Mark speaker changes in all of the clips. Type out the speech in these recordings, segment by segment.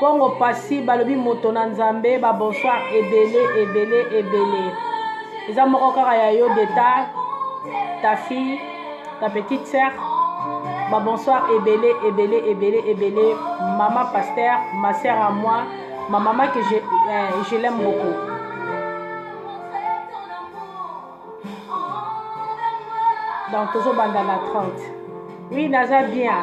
Speaker 1: Congo pasi balobi moto na nzambe ba bonsoir ebele ebele ebele eza moko kaka ya yo deta ta fille ta petite sœur ba bonsoir ebele ebele ebele ebele mama pasteur ma sœur à moi ma maman que je, euh, je l'aime beaucoup donc tozobanda na 30 oui naza bien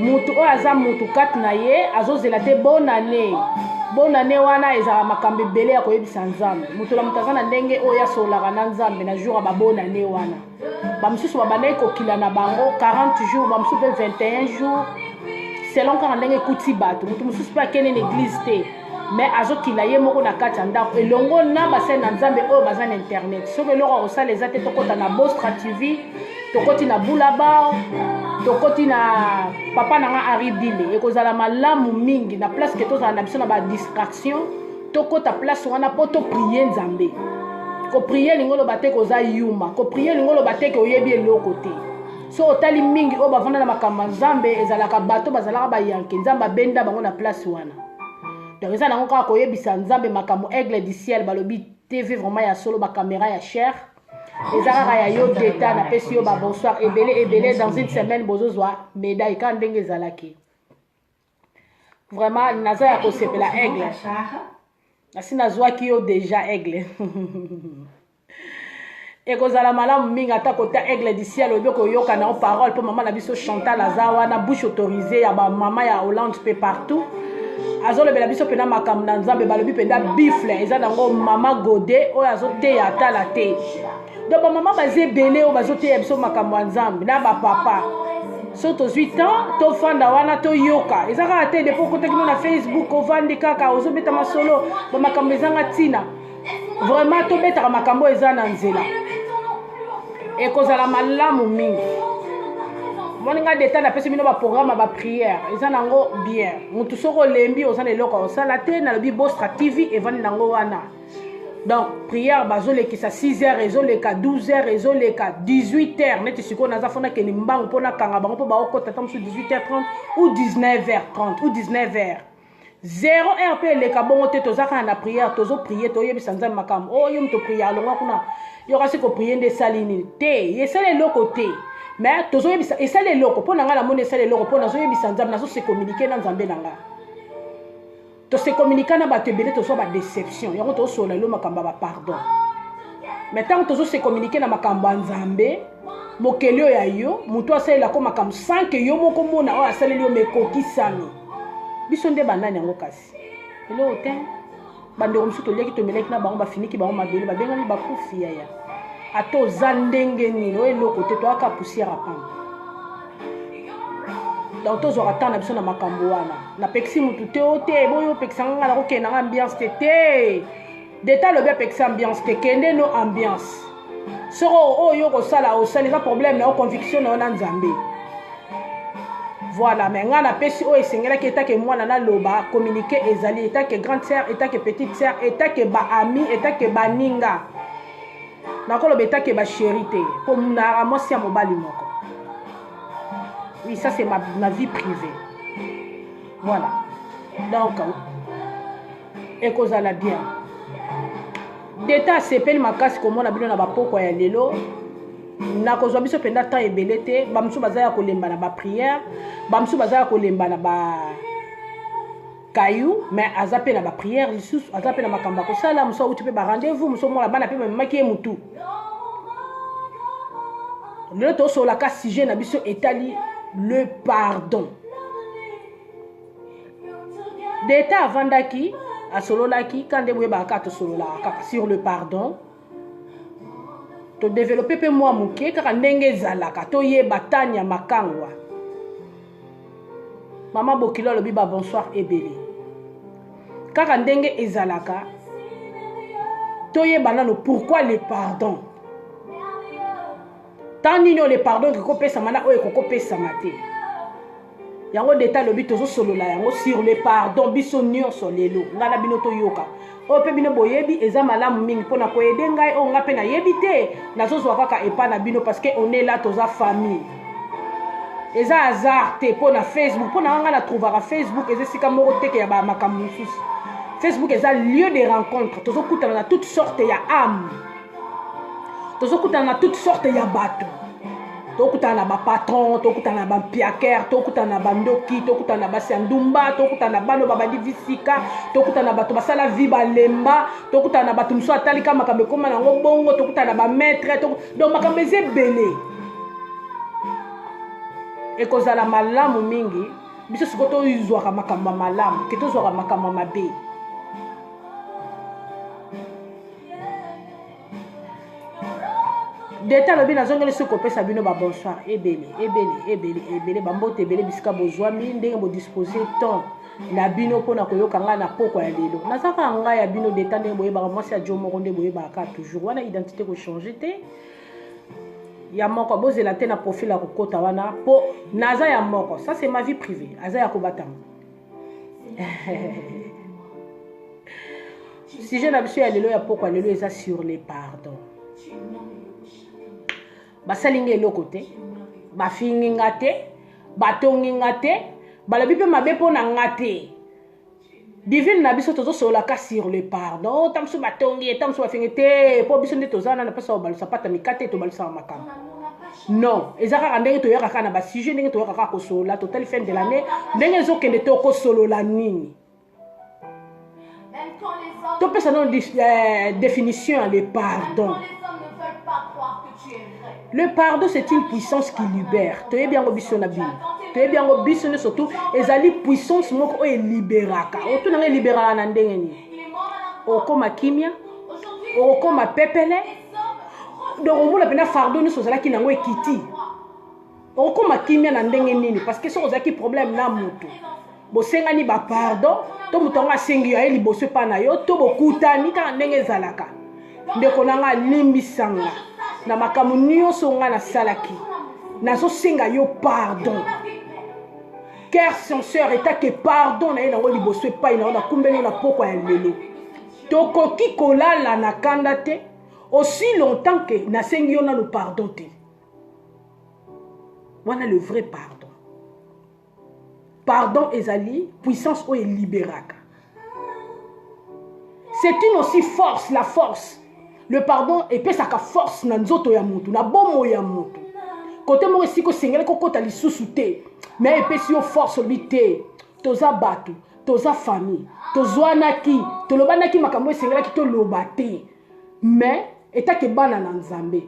Speaker 1: moto oyo aza moto kati na ye azozela te bonane bonane wana ezalaka makambo ebele ya koyebisa nzambe moto na moto aza na ndenge oyo asololaka na nzambe na jour ya babonane wana bamosusu babandaki kokila na bango 40 jours bamosusu mpe 21 jours selon kaka ndenge ekuti bato moto mosusu mpe akende na eglize te me azokila ye moko na kati ya ndako elongo na basali na nzambe oyo baza na internet soki eloko ya kosala eza te tokɔta na bostra tv tokoti na boulabao tokoti na papa na nga henri dile ekozala malamu mingi na place ke tozala na biso na badistraction tokota place wana mpo toprie nzambe koprie elingi oloba te koza yuma koprie elingi oloba te ke oyebi eloko te so otali mingi oyo bafanda na makambo ya nzambe ezalaka bato bazalaka bayanke nzambe abenda bango na place wana donc eza nango kaka koyebisa nzambe makambo aigle du ciel balobi tv vraiment ya solo bakamera ya cher eza kaka ya yo deta napesi yo babonsoir ebele ebele dans une semaine bozozwa medaille kaka ndenge ezalaki vraiment naza ya kosepela aigle nasi nazwaki yo deja aigle ekozala malamu mingi ata kota aigle du ciel oyebi koyoka na yo parole mpo mama na biso chantal aza wana bouche autorisé ya bamama ya hollande mpe partout azolobela biso mpena makambo na nzambe balobi mpenda bifle eza nango mama gode oyo azoteya atala te donc bamama baza ebele oyo bazoteya biso makambo ya nzambe na bapapa so tozwi temps tofanda wana toyoka eza kaka te depo okotaki no na facebook ovandi kaka ozobeta masolo bamakambo ezanga ntina vraiment tobetaka makambo oyo eza na nzela ekozala malamu mingi moni ngai deta napesi bino baprogramme ya bapriere eza nango bien motu soki olembi oza na eloko osala te nalobi bostra tv evandi nango wana donc priere bazolekisa 6 heures ezoleka 12 heures ezoleka 18 heures neti sikoyo naza fona kende mbangu mpo nakanga bango mpo baokota ta mosusu 18 heures 30 ou 19 heures 30 ou 19 heures zero heure mpe eleka bongo te toza kaka na priere tozo prie toyebisa nzambe makambo oyo oh, moto prie alongwa kuna yo kasi koprie nde esali nini te esali eloko te mais tozoyebisa esali eloko mpo na ngai namoni esali eloko mpo nazoyebisa nzambe nazose communike na nzambe na ngai tose communike na bato ebele tozwa badeception yango tozosolola elo makambo ya bapardon mais ntango tozose communike na makambo ya nzambe mokeli oyo ya yo moto asalelako makambo sanke yo moko mona oyo asaleli yo mekokisami biso nde banani yango kasi eloko te bandeko mosusu toliaki tomelaki na bango bafiniki bango mabele babengami bakufi yaya ata oza ndenge nini oyo eloko te toyaka poussière apamba donc tozwaka ntango na biso na makambo wana napekisi motu te o te boyo opekisa nga nga nakokende nanga ambiance te te deta alobi apekisa ambiance te kende no ambiance soko oyo yo kosala osali eza problème na yo conviction na yo na nzambe voilà mais ngai napesi oyo esengelaki etake mwana naloba communiqué ezali etake grande sœur etake petite sœur etake baami etake baninga nakoloba etake basheri te mpo nara mwasi ya mobali moko oui ça c'est ma, ma vie privée voilà donc ekozala bien deta asepeli makasi komona bino na bapokwa ya lelo nakozwa biso mpenza temps ebele te bamosusu baza ya kolemba na bapriere bamosusu baza ya kolemba na ba kayu mais aza mpe na bapriere lisusu aza mpe na makambo ya kosala mosu auti mpe barendez-vous mosu omona bana mpe bamemaki ye motu lelo tosololaka sujet na biso etali le pardon deta avandaki asololaki ka nde boyebaka kaka tosololaka kaka sur le pardon todevelope mpe mwa moke kaka ndenge ezalaka toyeba tania makangwa mama bokilo alobi ba bonsoir ebele kaka ndenge ezalaka toyeba nano pourquoi le pardon ntango nini oyo le pardon ekoki kopesama na oyo ekoki kopesama te yango nde ta lobi tozosolola yango sur le pardon biso nyonso lelo ngai na bino toyoka oyo mpe bino boyebi eza malamu mingi mpo na koyede ngai oyo ngai mpe nayebi te nazozwa kaka epai na bino parce que on est là toza famille eza hasard te mpo na facebook mpo na ngai na trouvaka facebook eza esika moko teke ya bamakambo mosusu facebook eza lieu de rencontre tozokutana na toute sorte ya ame tozokutana na toute sorte ya bato tokutana na bapatron tokutana na bampiakere tokutana na bandoki tokutana na basi ya ndumba tokutana na bano babandi visika tokutana na bato basala vi balemba tokutana na bato mosusu atalika makambo ekoma nango bongo tokutana na bamaitre donc makambo eza ebele ekozala malamu mingi biso sikoyo tozwaka makambo ya malamu ke tozwaka makambo ya mabe deta alobi nazongeli soki kopesa bino babonsoir ebele ebele ebele ebele bambote ebele bisika bozwami ndenge bodispose temps na bino mpo na koyoka ngai na pokwa ya lelo naza kaka ngai ya bino deta ndenge boyebaka mwasi ya jo moko nde boyebaka kaka toujours wana identité kochange te ya moko bozela te na profil ya kokota wana mpo naza ya moko ça c'est ma vie privée aza ya kobatama sujet na biso ya lelo ya pokwa lelo eza sur le pardon basali nga eloko te bafingi nga te batongi nga te balobi mpe mabe mpo na nga te divine na biso tozosololaka sur le pardon ta mosusu batongi ye ta mosusu bafingi te mpo biso nde toza na na mposa kobalusa mpata mikate tobalusaka makambo non eza kaka ndenge toyaka kaka na basujet ndenge toyaka kaka kosolola totali fin de l'année ndenge ezokende tokosolola nini topesa no euh, définition ya le pardon le pardon c'est une puissance qui libère toyebi yango biso na bino toyebi yango biso nde surtout ezali puissance moko oyo eliberaka otunanga eliberaka na ndenge nini okoma kimia okoma pepele donc omona mpena fardo nyonso ozalaki nango ekiti okoma kimia na ndenge nini parce que soki ozalaki problème na moto bosengani bapardon to moto yango asengi yo aye liboso epai na yo to bokutani kaka ndenge ezalaka ndeko na ngai alimbisanga na makambo nyonso ngai nasalaki nazosenga yo pardon ker senseur etake pardon na ye nango liboso epai na yo nakumbeli yo na pokwa ya lelo tokoki kolala na kanda te aussi longtemps que nasengi yo nano pardon te wana le vrai pardon pardon ezali puissance oyo eliberaka c'est une aussi force la force le pardon epesaka force na nzoto ya motu na bomoi ya motu kote moko esika osengelaki kokota lisusu te me epesi yo force olobi te toza bato toza famille tozwanaki tolobanaki makambo esengelaki toloba te mais etake bana na nzambe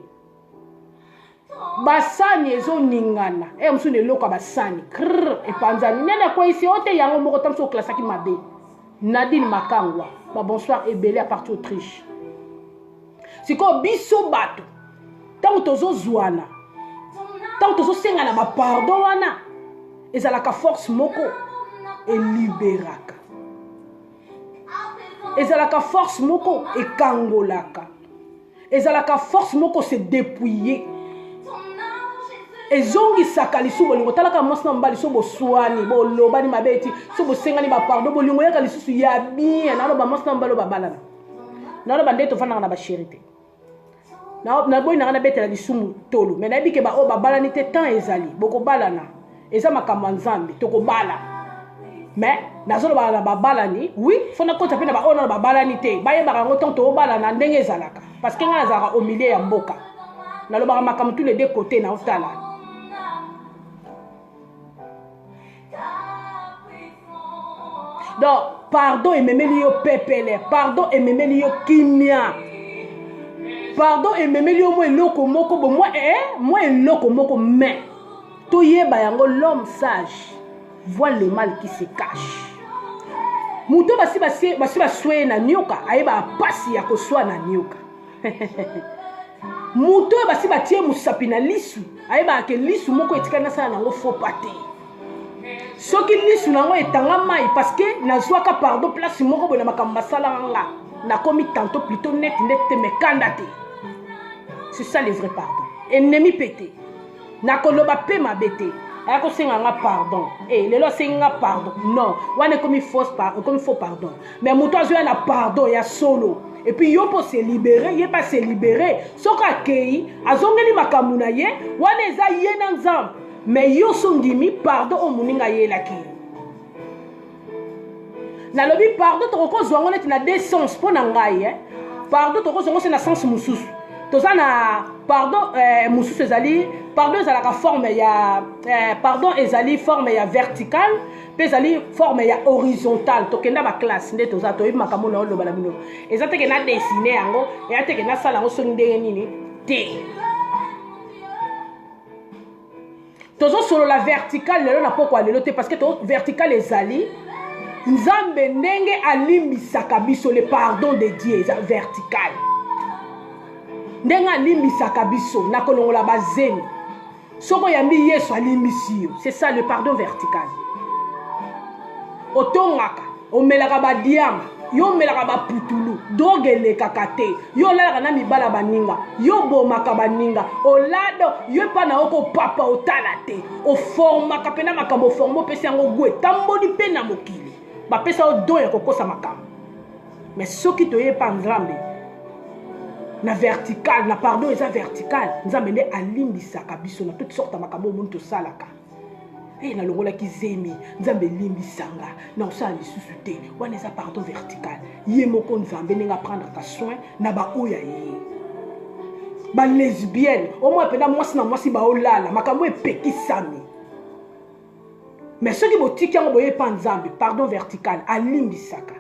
Speaker 1: basani ezoningana e eh, mosusu na eloko ya basani krr epanzani nani akweyisi o te yango moko ta mosusu oklasaki mabe nadine makangwa babonsoir ebele ya parti autriche sikoyo biso bato ntango tozozwana ntango tozosengana bapardon wana ezalaka force moko eliberaka ezalaka force moko ekangolaka ezalaka force moko se depouiller ezongisaka lisusu bolingo talaka mwasi na mobali so boswani bolobani mabe eti so bosengani bapardon bolingo yaka lisusu ya bien naloba mwasi na mobali obabalana nano bande tofandaka na basheri te naboyi nanga nabetela lisumu tolo mai nayebi ke baoyo babalani te temps ezali bokobalana eza makambo ya nzambe tokobala mais nazolobaka na babalani wi fo nakota mpe na baoyo nano babalani te bayebaka yango ntango tobalana ndenge ezalaka parce que ngai nazalaka au milieu ya mboka nalobaka makambo tous les deux côté naotala donc pardon ememeli yo pepele pardon ememeli yo kimia pardon ememeli yo mwa eloko moko bo mwa eh, mwa eloko moko mais toyeba yango l'homme sage voit le mal qui se cache moto basi basi basweye na nioka ayebaka mpasi ya koswa na nioka moto oyo basi batie mosapi na lisu ayebaka ke lisu moko etikali nasala nango fopa te soki lisu na yango etanga mai parce que nazwaka pardon place moko boye na makambo basalaka nga nakomi tanto plutôt neti nde te mekanda te c'est ça le vrai pardon ennemi mpe te nakoloba mpe mabe te aya kosenga nga pardon e lelo asengi nga pardon non wana ekomi fausse ekomi faux pardon mais moto azoya na pardon ya solo epuis yo mpo se libere ye mpe ase libere soki akei azongeli makambo na ye wana eza ye na nzambe mais yo so ondimi pardon oyo moninga ayelaki ye nalobi pardon tokokozwa yango neti na deux sens mpo na ngai eh? pardon tokozwa yango se na sens mosusu toza na pardon eh, mosusu ezali pardon ezalaka forme ya eh, pardon ezali forme ya verticale mpe ezali forme ya horizontale tokenda baklasse nde toza toyebi makambo na oloba na bino eza teke na desine yango eya teke nasala yango soki ndenge nini te tozosolola vertical lelo na pokwa lelo te parce que to vertical ezali nzambe ndenge alimbisaka biso le pardon de dieu eza vertical ndenge alimbisaka biso na kolongola bazemi soki oyambi yesu alimbisi yo c'est ça le pardon vertical otongaka omelaka badiama yo omelaka baputulu droge elekaka te yo olalaka na mibala baninga yo obomaka baninga olado yo epa na yo kopapa otala te oformaka mpena makambo oforme opesi yango gu etamboli mpe na mokili bapesa yo don ya kokosa makambo me soki toye epa nzambe na vertical na pardon eza vertical nzambe nde alimbisaka biso na toute sorte ya makambo omoni tosalaka e eh, nalongolaki zemi nzambe elimbisanga na kosala lisusu te wana eza pardon vertical ye moko nzambe ndenge aprendraka soin na baoyo ya ye balesbienne omoi mpenza mwasi na mwasi baolala makambo epekisami me soki botiki yango boye epa nzambe pardon vertical alimbisaka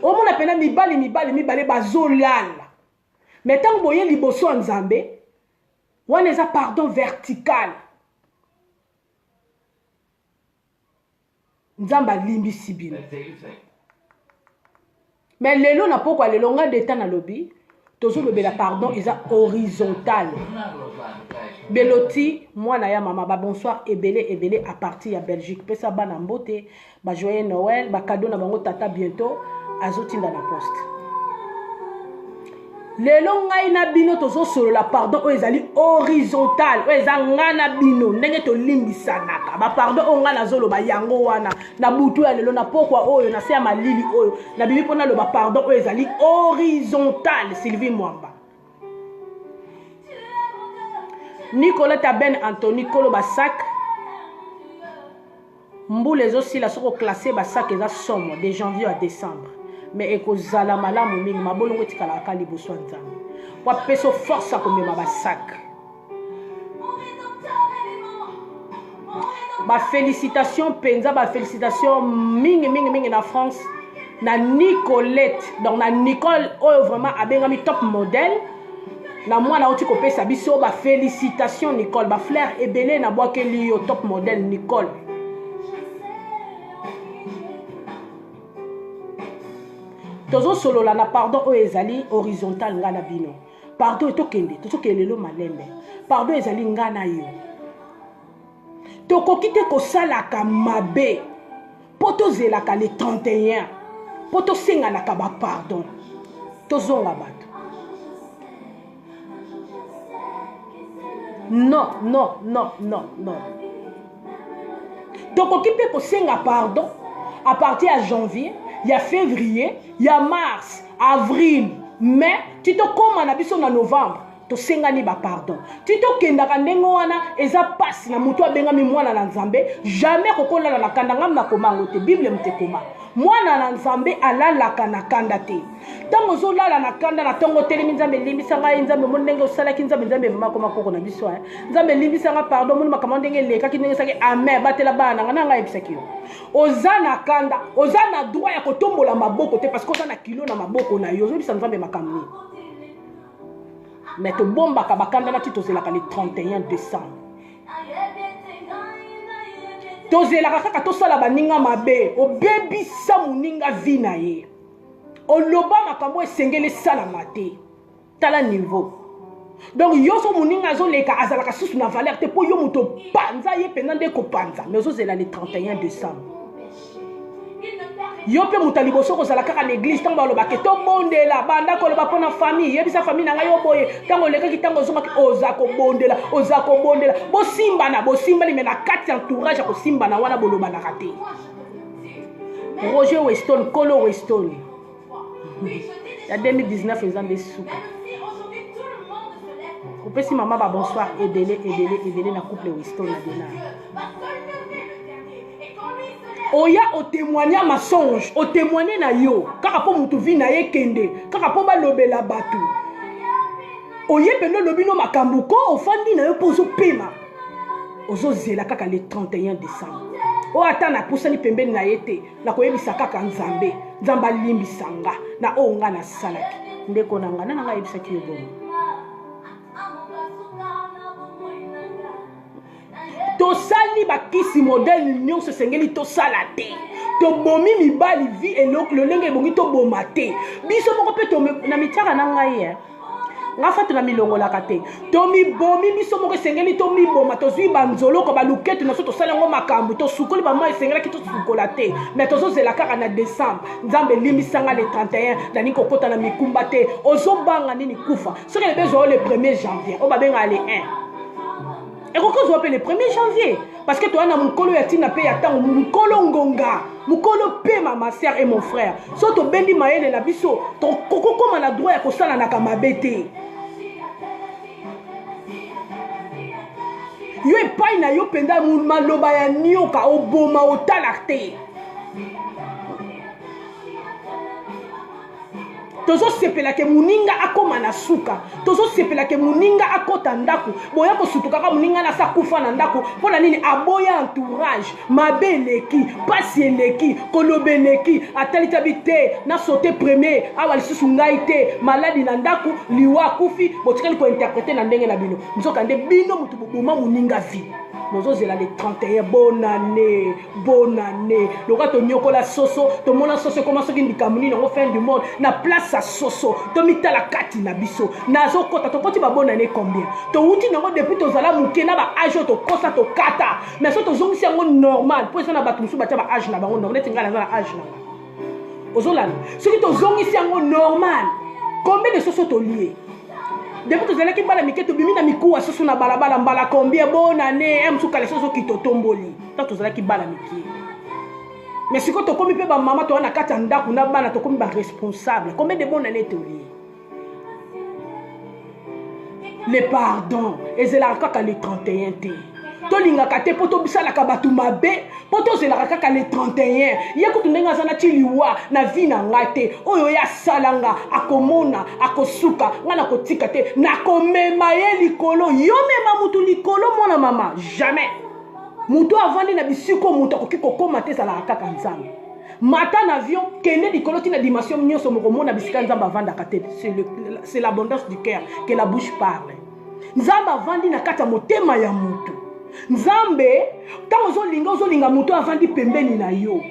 Speaker 1: omona mpenza mibali mibali mibale bazolala me ntango boye liboso ya nzambe wana eza pardon vertical nzambe alimbisi bino me lelo na pokwa lelo ngai deta nalobi tozolobela pardon eza horizontal beloti mwana ya mama babonsoir ebele ebele apartir ya belgique pesa bana mbote ba joyeux noël ba cadeau na bango tata bientôt azotinda na poste lelo ngai na bino tozosolola pardon oyo ezali horizontal oyo eza ngai na bino ndenge tolimbisanaka bapardon oyo ngai nazoloba yango wana na butu ya lelo na pokwa oyo na se ya malili oyo nabimi mpo naloba pardon oyo ezali horizontal sylvie mwamba nicoleta ben antony koloba sak Mbula ezo sila soki o classer ba sac eza somo de janvier à decembre mais ekozala malamu mingi mabolongo etikalaka ka liboso ya nzambe po apesa force ya komema ba sac ba félicitation mpenza ba félicitation mingi mingi mingi na france na nicolette donc na nicole oyo vraiment abengami top modèle na mwana auti kopesa biso ba félicitation nicole ba flaire ebele na bwakeli yo top modèle nicole tozosolola na pardon oyo ezali horizontal ngai na bino pardon etokende tozokende lelo malembe pardon ezali ngai na yo tokoki te kosalaka mabe mpo tozelaka le 31 mpo tosenganaka bapardon tozonga bato non non non non non tokoki mpe kosenga pardon à partir ya janvier ya février ya mars avril mai ti tokóma na biso na novembre tosengani bapardon ti tokendaka ndenge wana eza mpasi na moto abengami mwana na nzambe jamais kokolala na kanda ngam na koma yango te bible motekoma mwana na nzambe alalaka na kanda te ntango ozolala na kanda na ntongo otelemi nzambe elimbisa ngai nzambe omoni ndenge osalaki nzambe nzambe ememako makoko na biso eh. nzambe elimbisa ngai pardon omoni makambo ndenge elekaki ndenge osaki amen batela bana na ngai na ngai ayebisaki yo oza na kanda oza na droit ya kotombola maboko te parce que oza na kilo na maboko na yo ozobisa nzambe makambo nini mais tobombaka bakanda nati tozelaka le 31 décembre tozelaka kaka tosala baninga mabe obebisa moninga vi na ye oloba makambo esengeli esalama te tala niveau donc yo so moninga azoleka azalaka susu na valeur te mpo yo moto opanza ye mpenza nde kopanza mais ozozela le 31 décembre yo mpe moto ya liboso kozala kaka na eglise ntango balobaka ke tobondela banda koloba mpo na famille yebisa famille na ngai yo boye ntango olekaki ntango ozongaki oza kobondela oza kobondela bosimbana bosimbani me na kati ya entourage ya kosimbana wana bolobanaka te roger weston kolo weston ya 2019 eza nde suka opesi mama babonsoir ebele ebele ebele na couple wisto na dena oya otemoigne ya masonge otemoigne na yo kaka mpo motu vi na ye kende kaka mpo balobela bato oye mpenza olobi no makambo ko ofandi na yo mpo ozopema ozozela kaka le 31 décembre oyo ata napusani pembeni na ye te nakoyebisa kaka nzambe nzambe alimbisa nga na oyo nga nasalaki ndeko na nga nana nga ayebisaki yo bomo tosali bakisi modele nyonso esengeli tosala te tobomi mibali vi lolenge ebongi toboma te biso moko mpe na mitiaka na ngai nga fatu namilongolaka te tomibomi biso moko esengeli tomiboma tozwi banzoloko baluketu na biso tosala yango makambo tosukoli bamwa esengelaki tosukola te mai tozozela kaka na décembre nzambe elimbisanga le 31 nalingi kokota na mikumba te ozobanga nini kufa soki elebe ezwa yo le 1er janvier oyo babengaka le 1 ekoki kozwa mpe le premier janvier parce que toya na mokolo ya ntina mpe ya ntango mokolo ngonga mokolo mpema ma sœur et mon frère so tobendi mayele na biso tokokoma na droit ya kosalanaka mabe te yo epai na yo mpenza maloba ya nioka oboma otala te tozosepela ke moninga akóma na suka tozosepela ke moninga akɔta ndako boya kosutukaka moninga nasi akufa na ndako mpo na nini aboya entourage mabe eleki mpasi eleki koloba eleki atalitabi te nasote premier awa lisusu ngai te maladi na ndako liwa akufi botikali kointerprete na ndenge na bino nzoka nde bino moto boboma moninga vi bozozela le 31 bonane bonne année lokola tonyokola soso tomona soso ekoma soki likambo nini yango fin du monde na place ya soso tomitala kati na biso nazokota tokoti babonne année combien towuti nango depuis tozala moke na baage oyo tokosa tokata mais so tozongisi yango normal mpo eza na bato mosusu batya baage na bango neti ngai naza na age na nga ozolanda soki tozongisi yango normal combien de soso tolie depuis tozalaki bana mike tobimi na mikuwa soso na balabala mbala combien bonane eh, msukala soso kitotomboli ntango tozalaki bana mike mais sikoyo tokomi mpe bamama toza na kati ya ndako na bana tokomi baresponsable combien de bon année tolie le pardon ezelaka kaka le 31 te tolingaka te mpo tobisalaka bato mabe mpo tozelaka kaka le 31 ye kutu ndenge aza nati liwa na vi na ngai te oyo ye asala nga akomona akosuka ngai nakotika te nakomema ye likolo yo mema motu likolo mwana mama jamais moto oyo avandi na bisika oyo moto akoki kokóma te ezalaka kaka nzambe mata na avion kende likolo ntina dimension nyonso mokomona bisika nzambe avandaka te c'est l'abondance du cœur que la bouche parle nzambe avandi na kati ya motema ya moto nzambe ntango ozolinga ozolinga moto avandi pembeni na yo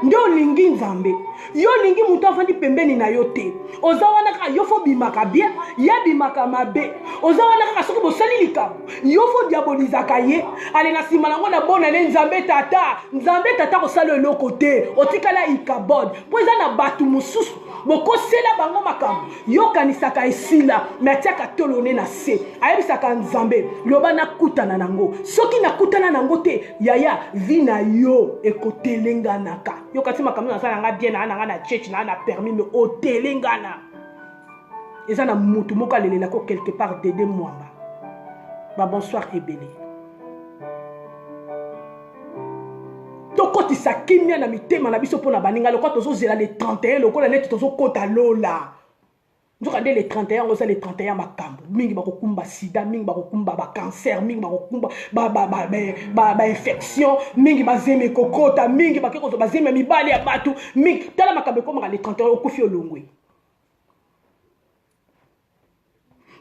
Speaker 1: nde olingi nzambe yo olingi moto afandi pembeni na yo te oza wana kaka yo fo obimaka bien ye abimaka mabe oza wana kaka soki bosali likambo yo fo diabolizaka ye ale na nsima nango na bona ne nzambe tata nzambe tata kosala eloko te otikala ikabod mpo eza na bato mosusu bokosela bango makambo yokanisaka esila me atiaka tolo ne na se ayebisaka nzambe loba nakutana nango soki nakutana nango te yaya vi na yo ekotelenganaka yokati makambo nazala nga bien naa na nga na cheche naa na permis me otelengana eza na mutu moko alelela ko quelque part dede mwamba ba bonsoir ebele tokotisa kimia na mitema na biso mpo na baninga lokola tozozela le 31 lokola neti tozokota lola nzoka nde le 31 yango eza le 31 makambo mingi bakokumba sida mingi bakokumba bacancer mingi bakokumba bainfection mingi bazemi kokota mingi bake kozwa bazemi ya mibali ya bato mingi tala makambo ekomaka le 31 okufi olongwe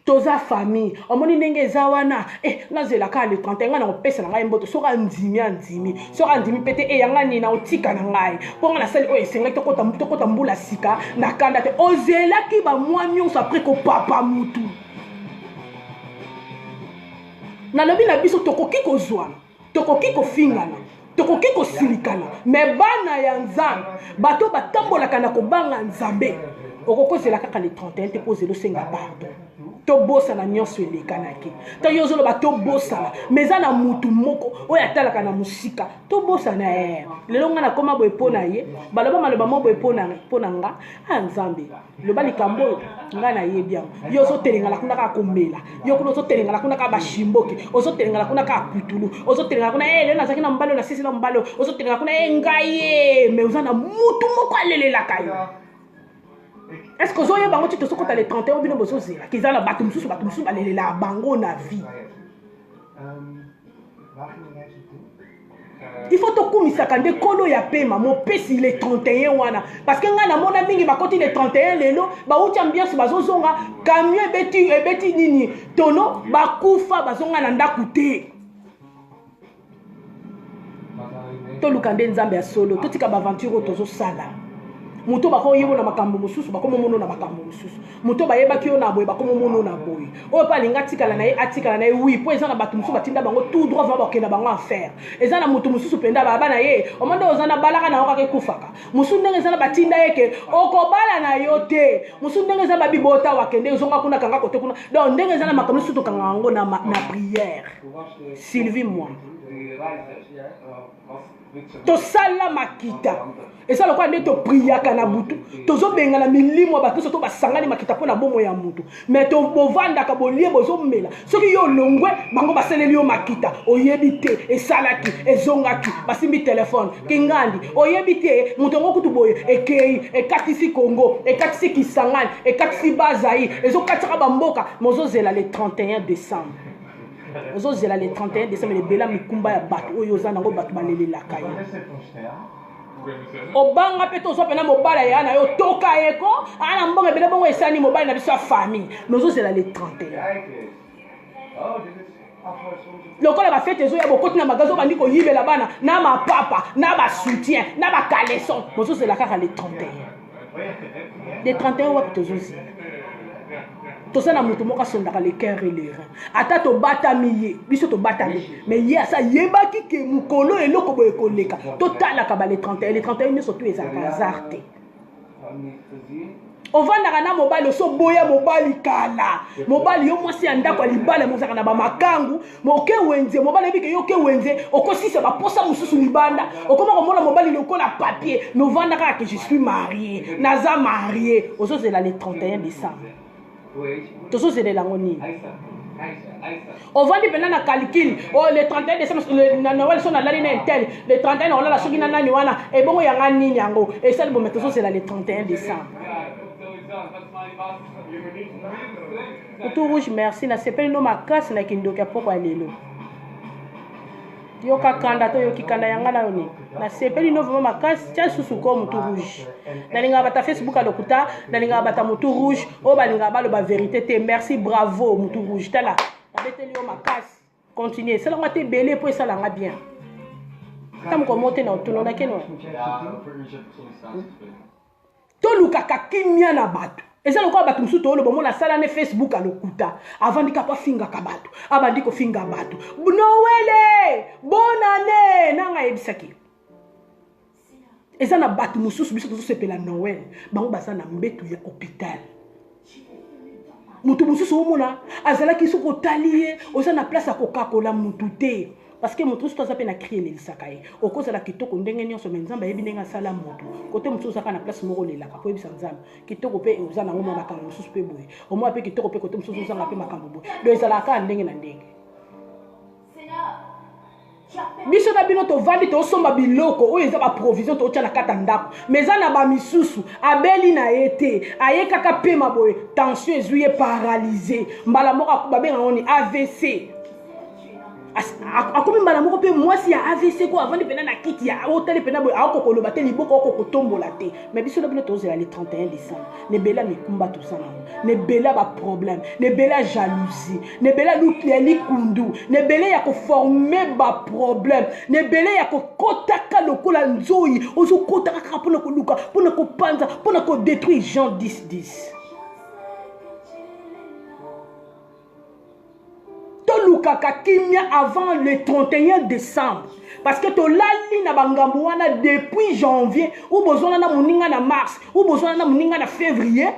Speaker 1: toza famille omoni ndenge eza wana eh, nazela kaka le 31 ngai nakopesa na ngai mboto soki andimi andimi soki andimi mpe te eya eh, ngai nini nakotika na ngai mpo ngai nasali oyo esengeli tokota mbula sika na kanda te ozelaki bamwa nyonso apres kopapa mutu nalobi na biso tokoki kozwana tokoki kofingana tokoki kosilikana me bana ya nzambe bato batambolaka na kobanga nzambe okokozela kaka le 31 te mpo ozela osenga pardon tobosana nyonso elekanaki ntango yo ozoloba tobosana ma eza na mutu moko oyo atalaka na mosika tobosana e lelo ngai nakoma boye mpo na ye baloba maloba mo boye mpo na nga a ah, nzambe loba likambo oyo ngai nayebi yango yo ozotelengala kuna kaka komela yo kuna ozotelengala kuna kaka bashimboki ozotelengala kuna kaka putulu ozotelengala kuna e eh, lelo nazalaki na mobali oyo nasisi na mobali oyo ozotelengala kuna e eh, ngai ye eh, mai oza na mutu moko alelelaka yo est ce que ozoyeba yango ti tozokota le 31 oyo bino bozozela kiza na bato mosusu bato mosusu balelelaka bango na vie il faut tokumisaka nde nkolo ya pema mopesi le 31 wana parce que ngai namona mingi bakoti le 31 lelo bauti ambiance bazozonga camion ebeti, ebeti nini tono bakufa bazonga na ndako te toluka nde nzambe ya solo totika baaventure oyo tozosala moto bakoyebona makambo mosusu bakomomono na makambo mosusu moto bayebaki yo na boye bakomomono na boye oyo mpe alingi atikala na ye atikala na ye wi mpo eza na bato mosusu batinda bango tout droit vraimen bakenda bango affaire eza na moto mosusu mpenza baba na ye omanda oza na balaka na yo kaka ekufaka mosusu ndenge eza na batinda ye ke okobala na yo te mosusu ndenge eza babibota wakende ezonga kuna kanga kote kuna donc ndenge eza na makambo mosusu tokanga yango na prière sylvie moi tosala makita eza lokola nde topriyaka na butu tozobengana milimo ya bakristo to basangani makita mpo na bomo ya moto me bovandaka bolie bozomela soki yo olongwe bango basaleli yo makita oyebi te esalaki ezongaki basimbi telefone kingandi oyebi te moto yango kutu boye ekei ekatisi congo ekatisi kisangani ekatisi bazai ezokatisaka bamboka mozozela le 31 décembre ozozela le 31 décembre lebela mikumba ya bato oyo oza nango bato balelelaka ye obanga mpe tozwa mpena mobala ya na yo toka ye ko aa na mbongo ebele bongo esani mobali na biso ya famille me ozozela le 31 lokola bafete ezoya bokoti na magazi obandi koyibela bana na mapapa na basoutien na bacaleson bozozela kaka le 31 de 31 wapi tozozi toza na moto moko asondaka le cœur et le rein ata tobatami ye biso tobatami mais ye asa yebaki ke mokolo eloko boye koleka totalaka ba le 31 le 31 nyonso tu ezalaka hasard te ovandaka na mobali osoboya mobali kala mobali yo mwasi ya ndako ya libala mozalaka na bamakangu moke wenze mobali ayebike yo ke wenze okosisa baposa mosusu libanda okoma komona mobali lokola papier novanda kaka ke je suis marie naza marie ozozela le 31 décembre tozozelela yango nini ovandi mpenza na calcule o oh, le 31 décembre na noel so nalali na intel le 31 nakolala soki na nani wana ebongo yanga nini yango esali bombe tozozela le 31 décembre Kutu rouge merci na sepeli no makasi na kindoki ya poko ya lelo. yoka kanda to yoki kanda yanga nayo nini nasepeli no vraimen makasi tia lisusu ko motu rouge nalingaka bata facebook ya lokuta nalingaka bata motu rouge oyo balingaka baloba verité te merci bravo motu rouge tala nabeteli yo makasi continue esalanga te ebele mpo esalanga bien ata mokolo moko te na otunonakeno tolukaka kimia na bato eza lokola bato mosusu tooloba omona asala ne facebook ya lokuta avandi kaka afingaka bato abandi kofinga bato noele bonane nanga ayebisaki eza na bato mosusu biso tozosepela noel bango baza na mbetu ya hôpital moto mosusu omona azalaki soki otali ye oza na place ya kokakola motu te parce que moto mosusu aza mpe na cri elelisaka ye okozala kitoko ndenge nyonso mai nzambe ayebi ndenge asala moto kote mosusu ozaka na place moko olelaka mpo oyebisa nzambe kitoko mpe oza nango mwa makambo mosusu mpe boye omona mpe kitoko mpe kote mosusu ozanga mpe makambo boye do ezalaka kaka ndenge na ndenge biso na bino tovandi tosomba biloko oyo eza baprovision totya na kati ya ndako ma eza na bamisusu abeli na ye te aye kaka pema boye tension ezwi ye paralyse mbala moko babenga ngo ni avc akomi mbala moko mpe mwasi ya avc ko avandi mpena na kiti ya otali mpena boye aokokoloba te liboko aokokotombola te ma biso na bino tozela le 31 décembre na ebele ya mikumba toza nango na ebele ya baproblème na ebele ya jalousie na ebele ya likundu na ebele ya koforme baproblème na ebele ya kokotaka lokola nzoi ozokotaka kaka mpona koluka mpona kopanza mpona kodétruire jean 1010 tolukaka kimia avant le 31 décembre parce que tolali na bangambo wana depuis janvier ou bozwana na moninga na mars ou bozwana na moninga na février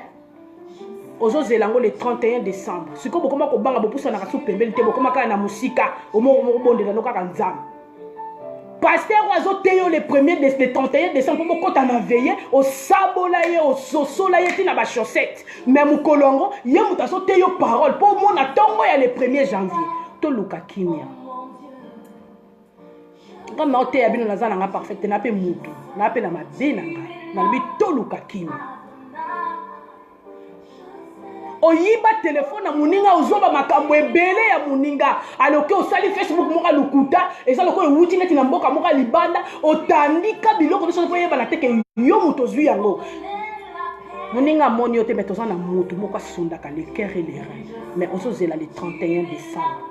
Speaker 1: ozozela yango le 31 décembre sikoyo bokoma kobanga bopusanaka so pembeni te bokoma kaka na mosika omobondela no kaka nzambe paster oyo azoteya yo le premier de, le 31 décembre mpo bokɔta na veye osabola ye ososola ye ti na bachaussette me mokolo yango ye moto azoteya yo parole mpo omona ntongo ya le premier janvier toluka kimia ngai naoteya bino naza na ngai parfaite na mpe motu na mpe na mabe na ngai nalobi toluka kimia oyiba telefone ya moninga ozoba makambo ebele ya moninga aloki osali facebook moko lokuta eza lokola ewuti neti na mboka moko libanda otandika biloko nyonso mpo oyebana te ke yo moto ozwi yango moninga amoni yo te mai toza na motu moko asundaka le cœur et le rein mai ozozela le 31 décembre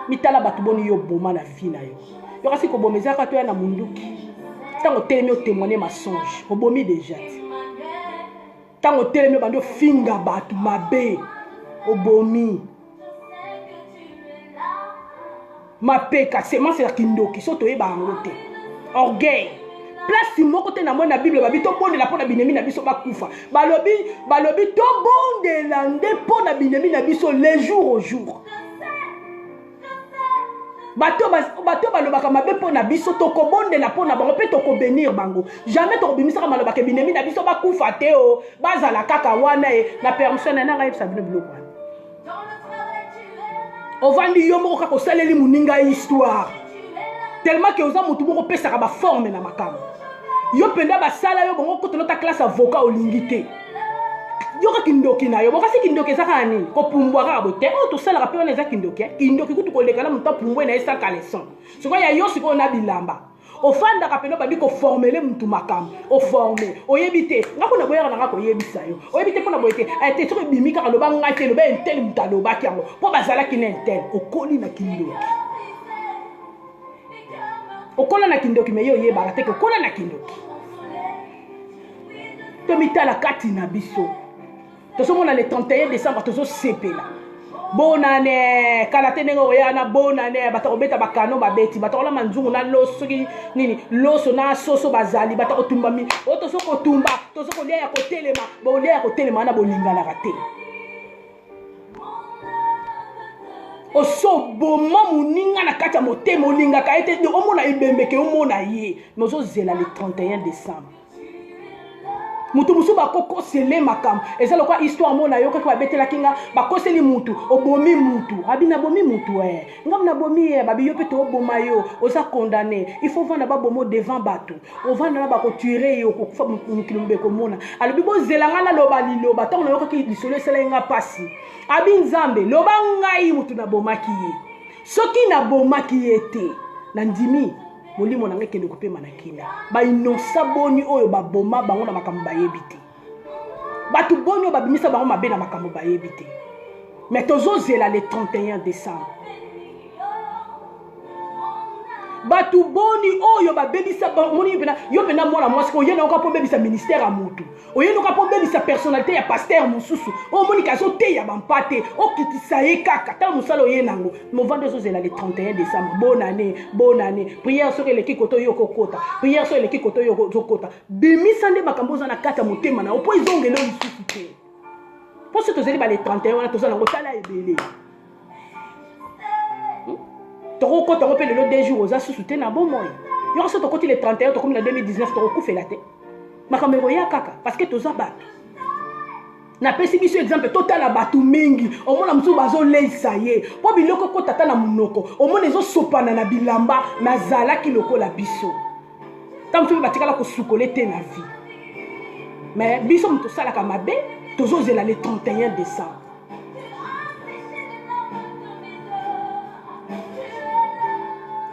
Speaker 1: mitala bato boni yo boma na vie na yo yokasi koboma ezalaka toya na monduki ntango otelemi otemoigne masonge obomi deja te ntango otelemi obandi ofinga bato mabe obomi mapeka semence ya kindoki so toyeba yango te orgueil place moko te namoni na bible babi tobondela mpo na binemi na biso bakufa balobi balobi tobondela nde mpo na binemi na biso le jour au jour bato bato balobaka mabe mpo na biso tokobondela mpo na bango mpe tokobenir bango jamais tokobimisaka malobaka ebinemi na biso bakufa te o bazala kaka wana ye na permission na nanga yebisa bino biloko wana ovandi yo moko kaka osaleli moninga histoire tellement ke oza motu moko opesaka baforme na makambo yo mpenza basala yo bango kotolota classe avocat olingi te yoka kindoki na yo bokasi kindoki eza kaka nini kopumbwa kaka boye te oyo tosalaka mpe wana eza kindoki eh? kindoki kutu koleka na moto apumbwe na ye sa caleson sikoyo ya yo sikoyo na bilamba ofandaka mpena obandi koformele motu makambo oforme oyebi te nga kuna boyaka na nga koyebisa yo oyebi te mpona boye te eh, te soki ebimi kaka loba ngai te loba entele moto alobaki yango mpo bazalaki na entele okoli na kindoki okola na kindoki me ye oyebaka te ke okola na kindoki tomitala kati na biso tozomona le 31 décembre tozosepela bonane kala te ndenge okoya na bonane bato kobeta bakano babeti bato kolama nzungu na loso soki nini loso na soso bazali bato kotumbami oyo tozo kotumba tozo kolia ya kotelema bolia ya kotelema wana bolinganaka te osoboma moninga na kati ya motema olingaka ye te omona ebembe ke omona ye me ozozela le 31 décembre moto mosusu bakokosele makambo eza lokola histoire mona yokaki babetelaki nga bakoseli motu obomi motu abi nabomi motu e eh. nga na bomi ye babi yo pe to boma yo oza condamné il faut vanda ba bomo devant bato ovanda na bako tuer ye okokufa mokili mobe komona alobi bozela nga na loba liloba tango nayokaki lisolo esalaki nga pasi abi nzambe loba ngai motu nabomaki ye soki nabomaki ye te nandimi molimo na ngai kende kopema na kina bainosa boni oyo baboma bango na makambo bayebi te bato boni oyo babimisa bango mabe na makambo bayebi te me tozozela le 31 décembre bato boni oyo babebisa moni pena yo mpena mwana mwasi ko oyenda yoka mpo obebisa ministère ya motu oyenda yoka mpo obebisa personnalité ya pasteur mosusu oyo omonike azoteya bampa te okitisa ye kaka ntango mosala oye nango movandi ozozela le 31 décembre bonne année bonne année prière soki eleki koto yo okokota prière soki eleki koto yo ozokota bimisa nde makambo oza na kati ya motema na yo mpo ezongela yo lisusu te mpo soki tozali bale 31 wana toza nango tala ebele hmm? tokokota yango mpe lelo de jour oza susu te na bomoi yoko soki tokoti le 31 tokomi na 2019 tokokufela te makambo ekoya kaka parce que toza bato napesi biso exemple totala bato mingi omona mosusu bazoleisa ye mpo biloko ekota ata na monoko omona ezosopana na bilamba nazalaki lokola biso ntango soki batikala kosukola te na vie me biso moto osalaka mabe tozozela le 31 décembre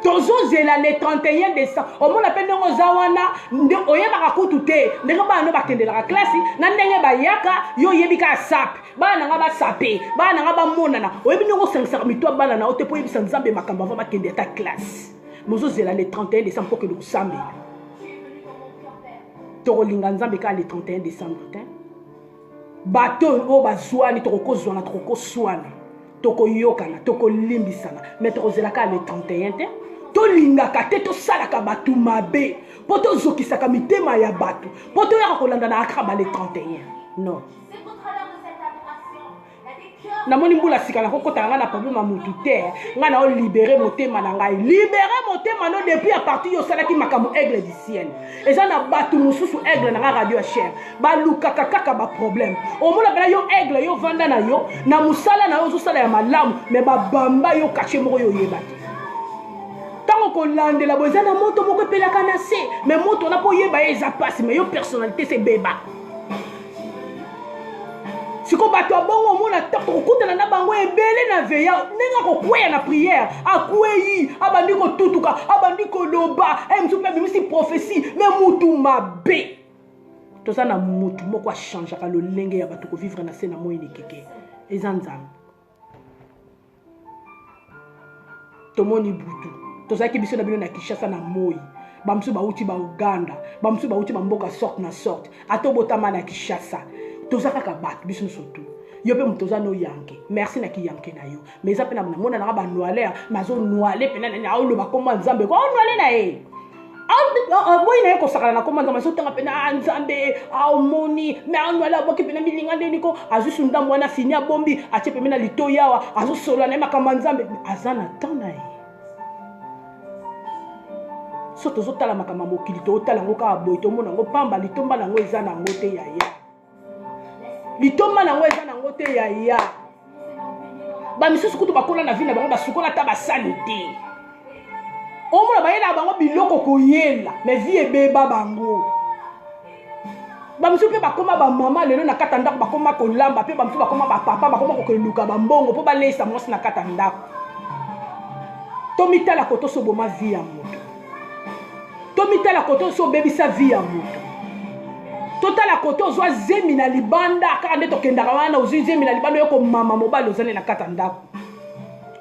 Speaker 1: tozozela le 31 décembre omona mpe ndenge oza wana nde oyebaka kutu te ndenge bana no bakendelaka klasi na ndenge bayaka yo oyebi kaka sape bana na ngai basape bana na ngai bamonana oyebi ndenge osangisaka mito ya bana na yo te mpo oyebisa nzambe makambo ava bakende ata klasi mozozela le 31 décembre mpo kende kosambela tokolinga nzambe kaka le 31 décembre te bato oyo bazwani tokokozwana tokokoswana tokoyokana tokolimbisana me tokozela kaka le 31 te tolingaka te tosalaka bato mabe mpo tozokisaka mitema ya bato mpo toyaka kolandana kaka ba le 31 non namoni mbula sika nakokota na ngai na problème ya motu te ngai nao libere motema na ngai libere motema no depuis ya parti yo osalaki makambo aigle du ciel eza na bato mosusu aigle na ngai radio ya chere balukaka kaka baproblème omonakala yo aigle yo vanda na yo na mosala na yo ozosala ya malamu me babamba yo kache moko yo oyebaki ntango kolandela bo eza na moto moko epelaka na se me moto wana mpo oyeba ye eza mpasi me yo personnalité se beba siko bato ya bongo omona tokokutana na bango ebele na veya ndenge akokweya na priere akwei abandi kotutuka abandi koloba eh, mosusu mpe abimisi profesi me mutu mabe toza na mutu moko achangeaka lolenge ya bato kovivre na se na moi nikeke eza nzambe tomoni butu tozalaki biso na bino na kinshasa na moi bamosusu bauti bauganda bamosusu bauti bamboka sorte na sorte ata obotama na kinshasa toza kaka bato biso nyonso tu yo mpe moto oza noyanke merci na kiyanke na yo ma eza mpe namonanaka banoiler nazonoile mpena nani aoloba nkombo ya nzambe ko onoile na ye aboyi na ye kosakana na koma nzambe azotanga mpena a ah, nzambe aomoni ah, me anwali aboki mpena milinga ndeni ko azusu ndambo wana fini abombi atie pembe na litoi awa azosolola na ye makambo ya nzambe aza na temps na ye so tozotala makambo ya mokili tootala yango kaka boye tomona yango mpamba litomba na yango eza na yango te yaya litomba na yango eza na yango te yaya bamisusu kutu bakola na vi na bango basukola ata basani te omona bayelaka bango biloko koyela me vi ebeba bango bamisusu mpe bakoma bamama lelo na kata ndako bakoma kolamba mpe bamisusu bakoma bapapa bakoma kokeluka bambongo mpo baleisa mwasi na kata ndako tomitala kotosoboma vi ya moto tomitala kote osi obebisa vi ya moto totala kote ozwa zemi na libanda kaka nde tokendaka wana ozwi zemi na libanda oyo komama mobali ozali na kati ya ndako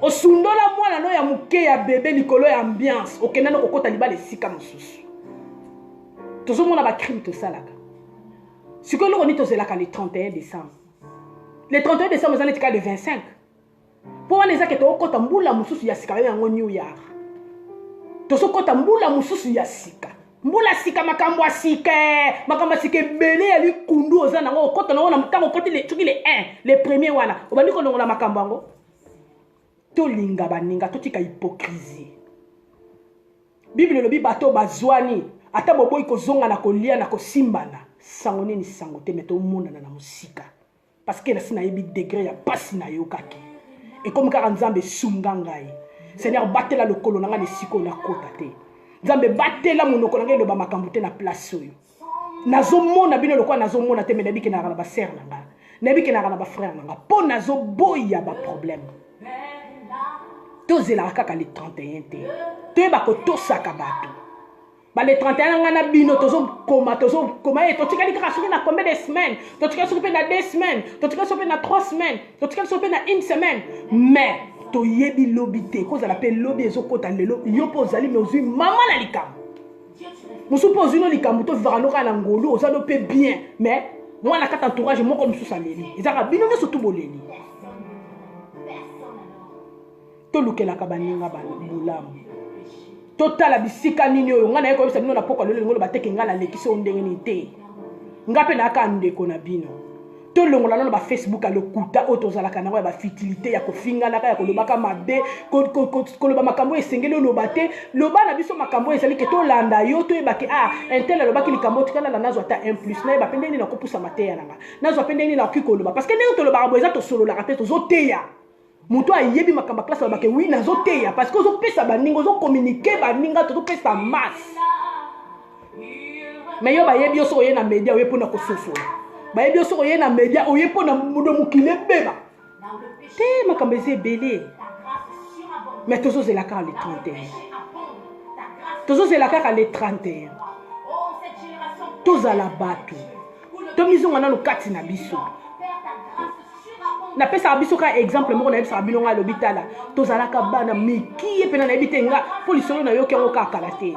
Speaker 1: osundola mwana no ya moke ya bebe likolo ya ambiance okendani kokota libala esika mosusu tozomona bacrime tosalaka sikoyo eloko nini tozelaka le 31 décembre le 31 décembre eza neti kaka le 25 mpo wana eza ke tokokɔta mbula mosusu ya sika babenga yango new year tozokɔta mbula mosusu ya sika mbula sika makambo ya sika makambo ya sika ebele ya likundu oza nango okota nango na ntango okoti soki le 1 le premier wana obandi kolongola makambo yango tolinga baninga totika hypocrisie biblia elobi bato bazwani ata boboyi kozonga na kolia na kosimbana sango nini sango te me tomonana na mosika parce que nasi nayebi degre ya mpasi nayokaki ekomi kaka nzambe esunga ngai seigneur batela lokolo na ngai na esika oyo nakota te nzambe batela monoko na ngai eloba makambo te na place oyo nazomona bino lokola nazomona te me nayebi kenaka na basere na ngai nayebi kenaka na bafrere na ngai mpo nazoboya baproblème tozelaka kaka le 31 te toyeba kotosaka bato bale 31 ngai na bino tozokoma tozokoma e eh, totikali kaka soki na combien de semaine totikali soki mpe na deux semaine totikali soki mpe na trois semaine totikali soki mpe na une semaine mais toyebi lobi te kozala mpe lobi ezokota lelo yo mpe ozali me ozwi mama na likambo mosusu mpe ozwi no likambo tovivaka no kaka na ngolu oza no mpe bien mais mwana kata entourage moko mosusu aleli ezaka bino nyonso tu boleli tolukelaka baninga bolamu totala bisika nini oyo ngai naye koyebisa bino na pokwa lelo lingo lobateke ngai nalekisi oyo ndenge nini te ngai mpe nayaka ndeko na bino tolongola nano bafacebook ya lokuta oyo tozalaka nango ya bafutilité ya kofinganaka ya kolobaka mabe koloba makambo oyo esengeli oloba te loba na biso makambo oyo ezali ke tolanda yo toyebake a ah, intel alobaki likambo oyo tikalala nazwa ata un plus nayeba mpe ndenge nini nakopusa mateya nanga nazwa mpe ndenge nini nakoki koloba parce que ndenge tolobaka boye eza tosololaka te tozoteya moto ayebi makambo ya klase alobake wi nazoteya parce que ozopesa baninga ozokominike baninga tozopesa masse me yo bayebi yo soki oye na media oye mpona kososola bayebi yo soki oye na media oye mpona modo mokili ebeba te makambo eza ebele me tozozela kaka le 31 tozozela kaka le 31 tozala bato tomizonga nano kati na biso napesaka biso kaka exemple moko nayebisaka bino ngai alobi tala tozalaka bana mikie mpena nayebi te nga mpo lisolo nayoki yango kaka kala te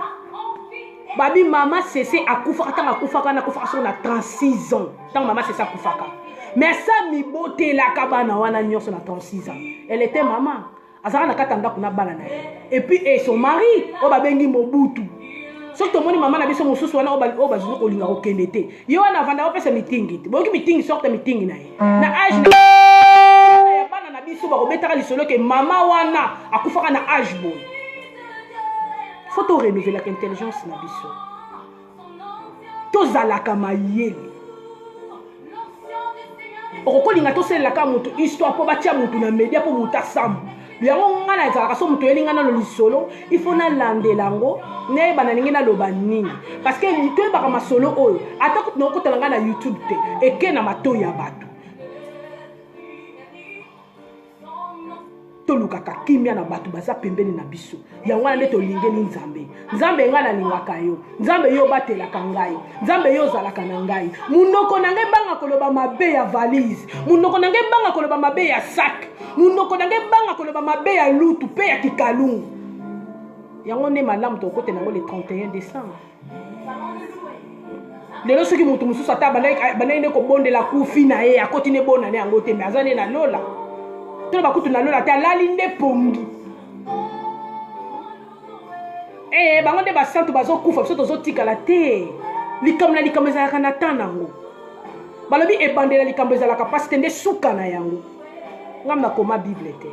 Speaker 1: babi mama sese akufaka ntango akufaka na akufaka soko na 36 ans ntango mama sese akufaka mais sa mibotelaka bana wana nyonso na 36 ans elle était mama azalaka na kati ya ndako na bana na ye epuis e son mari oyo babengi mobutu soki tomoni mama na biso mosusu wana oyo bazuzu kolinga kokende te ye wana avanda opesa mitingi te boyoki mitingi sorte mitingi na ye na age ya bana na biso bakobetaka lisolo ke mama wana akufaka na age boye fo to renouvelaka intelligence na biso tozalaka mayele okokolinga tosalelaka moto histoire mpo batya moto na media mpo moto asamba yango ngai nazalaka so moto oyeli ngai nano lisolo ifo nalandela yango nayeba na ndenge naloba nini parceke toyebaka masolo oyo ata kutu nakokotala ngai na youtube te eke na matoi ya bato tolukaka kimia na bato baza pembeni na biso yango wana nde tolingeli nzambe nzambe ngai nalingaka yo nzambe yo obatelaka ngai nzambe yo ozalaka na ngai monoko na ngai banga koloba mabe ya valise monoko na ngai banga koloba mabe ya sak monoko na ngai banga koloba mabe ya lutu mpe ya kikalungu yango nde malamu tokokotela yango le 31 décembre lelo soki moto mosusu ata bandaki nde kobondela kufi na ye akoti nde bona ne yango te me aza nde na lola to bakutu na lola te alali nde pongi ee eh, bango nde basantu bazokufa biso tozotikala te likambo na likambo ezalaka na temps nango balobi ebandela likambo ezalaka mpasi te nde suka na yango ngai nakoma bible te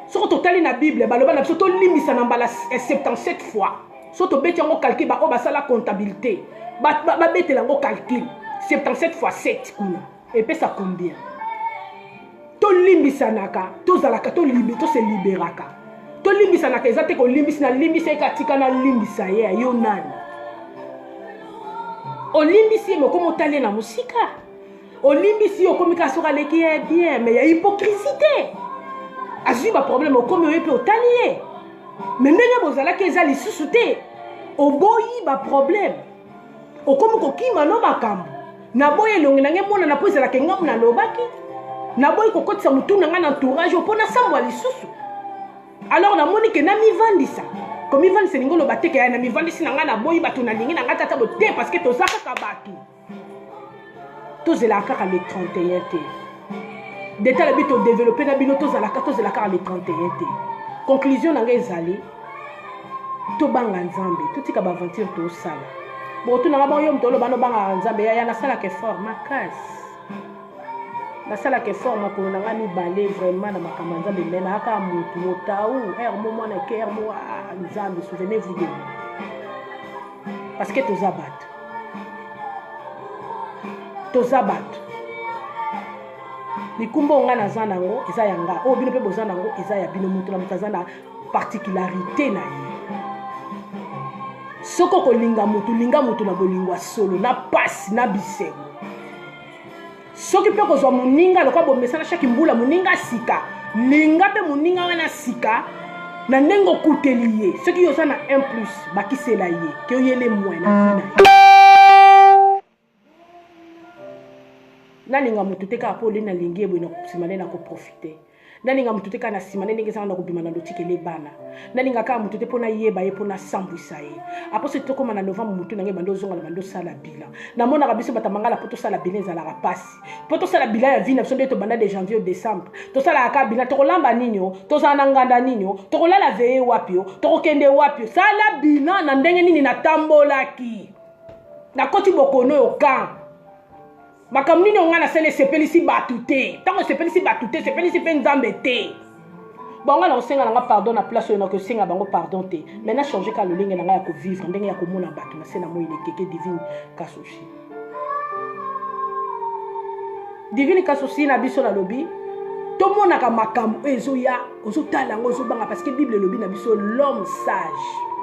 Speaker 1: soki totali na bible baloba na biso tolimbisa na mbala 77 eh, fois so tobeti yango calcul baoyo basala comptabilité babetela yango calcul 77 fois 7 kuna epesa combien tolimbisanaka tozalaka tose liberaka tolimbisanaka eza te kolimbisi nalimbisa ye katika nalimbisa ye ayo nani olimbisi ye mokoma otali ye na mosika olimbisi yo okomi kaka soki aleki ye bien mais ya hypocrisie te azwi baproblème okomi oye mpe otali ye mais ndenge bozalaki eza lisusu te oboyi baproblème okomi kokima no makambo naboyi elongi na ngai emonana mpo ezalaka engamu nalobaki naboyi kokotisa motu na ngai na entourage mpo nasambwa lisusu alors namoni ke namivandisa komivandisa elingi oloba te ke namivandisi na ngai naboyi bato nalingi na ngai tata bote parce que toza kaka bato tozelaka kaka le 31 te deta alobi todeveloppe na bino tozalaka tozela kaka le 31 te conclusion na ngai ezali tobanga nzambe totika baaventure tosala botunaka bango yo moto oloba nobangaka nzambe yaya nasalaka effort makasi nasalaka effort makolo na ngai mibale vraiment na makambo ya nzambe me nayaka motu motau r mo mwana ke r mo nzambe souvenez vous de moi parce que toza bato toza bato mikumba oyo ngai naza na yango eza ya ngai oyo bino mpe boza na yango eza ya bino moto na moto aza na particularité na ye soki okolinga motu linga motu na bolingo ya solo na mpasi na bisengo soki mpe kozwa moninga lokola bomesana shaki mbula moninga sika linga mpe moninga wana sika na ndenge okuteli ye soki yo oza na 1 plus bakisela ye ke oyele mwe na vi na ye nalinga moto te kaka mpo olei nalingi ye boye na nsima nde nakoprofite nalinga moto te kaka na nsima nde ndenge ezanga na kobima na lotikele bana nalinga kaka moto te mpo nayeba ye mpo nasambwisa ye aposo tokóma na novembre motu na ngai bando ozonga na bando osala bilan namonaka biso bato mangala mpo tosala bilan ezalaka mpasi mpo tosala bilan ya vi na biso nde tobanda de janvier o décembre tosalaka kaka bilan tokolamba nini o tozala na nganda nini o tokolala veye wapi o tokokende wapi o sala bilan na ndenge nini natambolaki nakoti bokono oyo kan makambo nini ongai nasali esepelisi bato te ntango esepelisi bato te esepelisi mpe nzambe te bango na kosenga na nga pardon na place oyo na kosenga bango pardon te mai na change ka lolenge na ngai ya kovivre ndenge ya komona bato na se na moi lekeke divine kasushi divine kasushi na biso nalobi tomonaka makambo oyo ezoya ozotala yango ozobanga parce que bible elobi na biso l'homme sage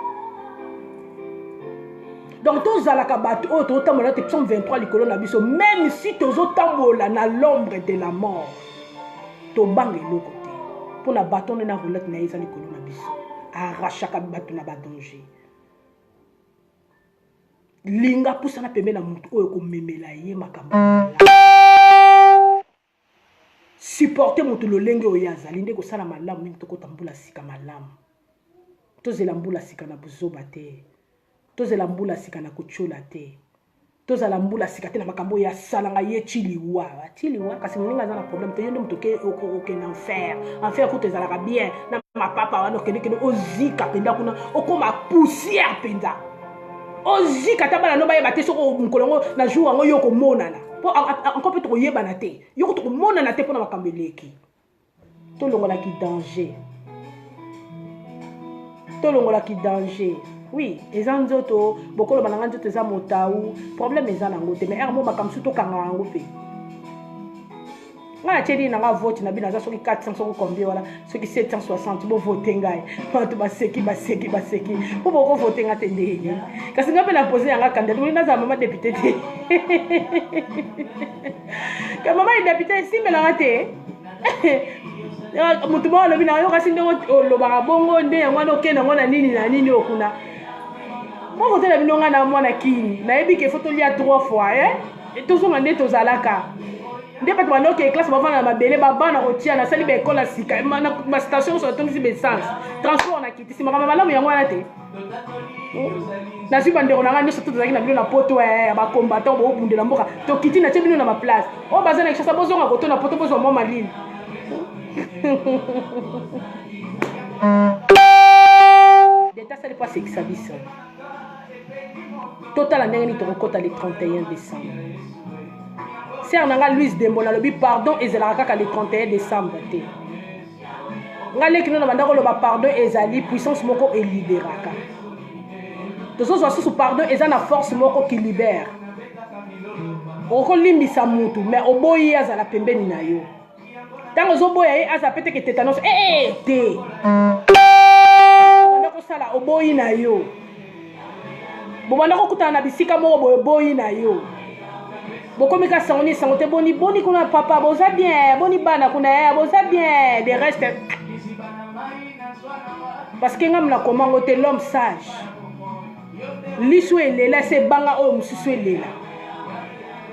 Speaker 1: donc tozalaka bato oyo tozotambola te psaume 23 likolo na biso meme si tozotambola na l'ombre de la mort tobanga eloko te mpo na baton nde na roulette na ye eza likolo na biso arachaka bato na badanger linga pusana pembe na moto oyo komemela ye makambo Supporter moto lolenge oyo ye azali nde ekosala malamu mingi tokota mbula sika malamu. Tozela mbula sika na buzoba te. Tozela mbula sika na kotyola te. Tozala mbula sika te na makambo oyo asalanga ye ti liwa. Ti liwa kasi moninga aza na problème te yo nde moto okende enfer. Enfer kutu ezalaka bien na mapapa wana okendekende ozika mpenza kuna okoma poussière mpenza. ozika ata bana no bayeba te soko mokolo yango na jour yango yo okomonana mpo anko mpe tokoyebana te yoko tokomonana te mpo na makambo eleki tolongolaki danger tolongolaki danger oui eza nzoto bokoloba na ngai nzoto eza motau problème eza na yango te mais ere mo makambo su tokanga yango mpe ngai natyeli na ngai vote na bino aza soki 400 soki combien wana soki 760 bovote ngai bato baseki baseki baseki mpo bokovote ngai te ndenge kasi ngai mpe na pose yanga kandidati olingi nazala mama depute te ka mama ye depute esimbelanga te motu moko alobi na yo kasi ndenge olobaka bongo nde yango wana okende yango na nini na nini okuna moko te na bino ngai na mwana kini nayebi ke fo tolia 3 fois eh? Et tozonga nde tozalaka. nde bato banoki eklase bavanda na mabele baba na kotia nasali baekola sika bastation nyonso natondisi baessence transport nakitisi makambo malamu yango wana te nazwi bandeko na ngai nyonso to tozalaki na bino na poto eh, ya bakombatan boobundela mboka tokiti natie bino na baplace oyo oh, baza na kishasa bozonga koto na poto bozwa mwa malili leta asali mpo asekisa biso totala ndenge nini tokokɔta le 31 décembre sere na ngai louise dembo nalobi pardon ezalaka kaka le 31 décembre te ngai leki no na bandako oloba pardon ezali puissance moko eliberaka tozozwa susu pardon eza na force moko ki libere okolimbisa mutu mais oboyi ye azala pembeni na yo ntango ozoboya ye aza peteke tetanos ee eh, eh, te banda kosala oboyi na yo bobanda kokutana na bisika moko boye oboyi na yo bokomi ka sango ni sango te boni boni kuna papa boza bien boni bana kuna ya eh, boza bien de reste parce que ngai mna komango te l'homme sage lisu elela esi ebanga oyo mosusu elela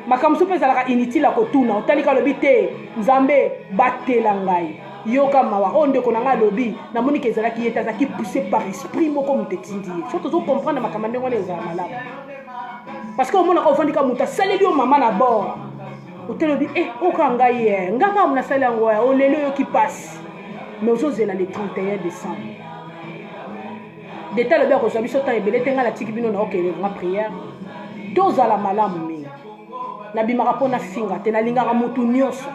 Speaker 1: makambo mosusu mpe ezalaka inutile ya kotuna otalika alobi te nzambe batela ngai yoka mawa oyo ndeko na ngai alobi namoniki ezalaki ye te azalaki pousse par esprit moko moto etindi ye so tozo comprendre makambo ndenge wana ezala malamu parce que omonaka ofandika moto asaleli yo mama na bord otelobi e eh, oka ngai ye eh, ngai kaka nasali yango eh, oleli oyoki mpasi mais ozozela le 31 décembre deta alobi akozwa biso temps ebele te ngai natiki bino na okende nga prière tozala malamu mingi nabimaka mpo nafinga te nalingaka motu nyonso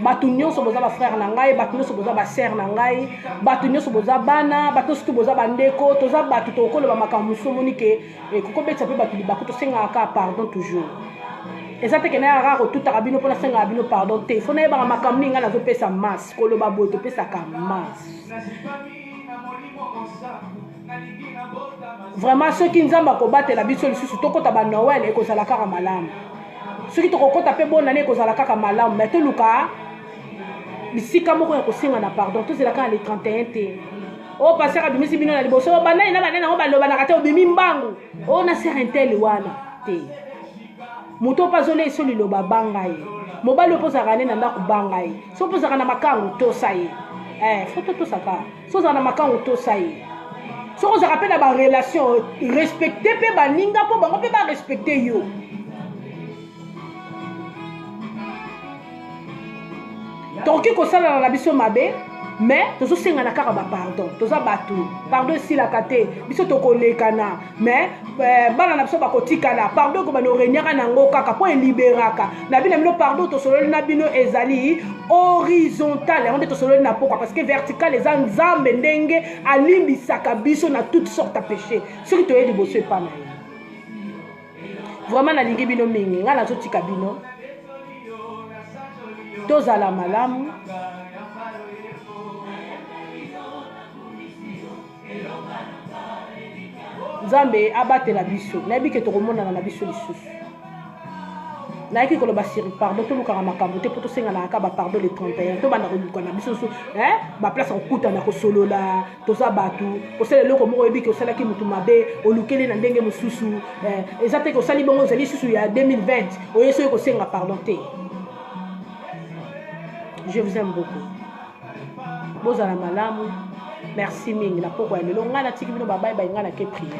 Speaker 1: bato nyonso boza bafrère na ngai bato nyonso boza basere na ngai bato nyonso boza bana bato nyonso tu boza bandeko toza bato tokoloba makambo mosusu omoni ke eh, kokobetisa mpe bato libaku tosengaka kaka pardon toujours eza te kena yaka kotutaka bino mpo nasengaka bino pardon te fo nayebaka makambo nini ngai nazopesa masse koloba boye topesaka masse vraiment soki nzambe akobatela biso lisusu tokota ba noel ekozala kaka malamu soki tokokota mpe bonane ekozala kaka malamu mai toluka bisika moko ya kosenga na pardon tozela kaka le 31 te o oh, paster abimisi bino na liboso oh, banani na banani yango balobanaka te obimi mbangu o oh, na ser intel wana te moto mpe azoleisa liloba banga ye mobali okozalaka nde na ndako banga ye so mpe ozalaka na makango tosa ye eh, fo totosaka so ozalaka na makango tosa ye soki ozalaka mpe na barelation respecte mpe baninga mpo bango mpe barespecte yo tokoki kosalana na biso mabe mais tozosengana kaka bapardon toza bato pardon esilaka te biso tokolekana mais euh, bana na biso bakotikala pardon ekobanda oregnaka na yango kaka mpo eliberaka na bino na bino pardon tosololi na bino ezali horizontale yango nde tosololi na pokwa parce que verticale eza nzambe ndenge alimbisaka biso na toute sorte ya péché soki toye liboso epa na ye vraiment nalingi bino mingi ngai nazotika bino tozala malamu nzambe abatela biso nayebi ke tokomonana na biso lisusu nayaki koloba siri pardon tolukaka makambo te mpo tosenganaka kaka bapardon le 31 tobanda koluka na biso so eh, baplace ya kokutana kosolola toza bato osala eloko moko oyebi ke osalaki motu mabe olukeli na ndenge mosusu eh, eza te ke osali bongo ezali lisusu ya 2020 oye soki kosenga pardon te je vous aime beaucoup bozala malamu merci mingi na pokwa ya lelo ngai natiki bino babai bai ngai nake priere